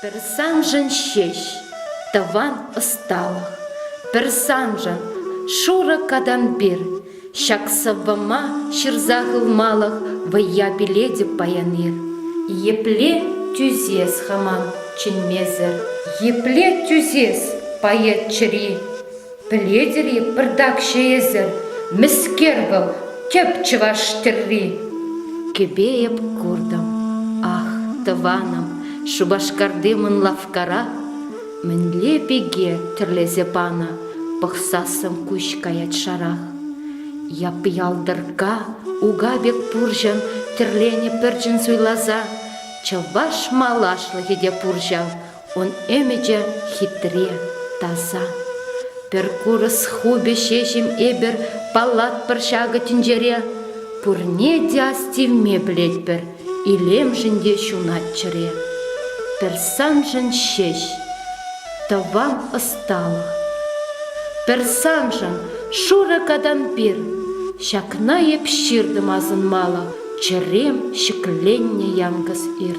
Пӗр саншӑн ҫеҫ тӑван ӑсталӑх, пӗр саншӑн, шурӑ катампир. Ҫак сӑввӑма ҫырса хывмалӑх вӑййа пилетӗп паян-ир. Епле тӳсес хама чӗнмесӗр? Епле тӳсес поэт чӗри? Пӗлетӗр-и, пӑртакҫӑ эсӗ, мӗскер вӑл, тӗп чӑваш тӗрри? Кӗпе эп куртӑм, ах, тӑванӑм, Шупашкарти мӑн лавккара мӗнле пике тӗрлесе панӑ, пӑхсассӑн куҫ каять шарах. Яп-ялтӑркка ука пек пурҫӑн тӗрленӗ пӗрчӗн суйласа, чӑваш малашлӑхӗ те пур ҫав, Ун ӗмӗчӗ хитре, таса. Пӗр курӑс хупӗ ҫеҫ-им эпир паллатпӑр ҫакӑ тӗнчере? Пурне те астивме пӗлетпӗр, илемшӗн те ҫунать чӗре. Пӗр саншӑн ҫеҫ, тӑван ӑсталӑх. Пӗр саншӑн, шурӑ катампир. Ҫакна эп ҫыртӑм асӑнмалӑх чӗрем ҫӗкленнӗ янкӑс ир.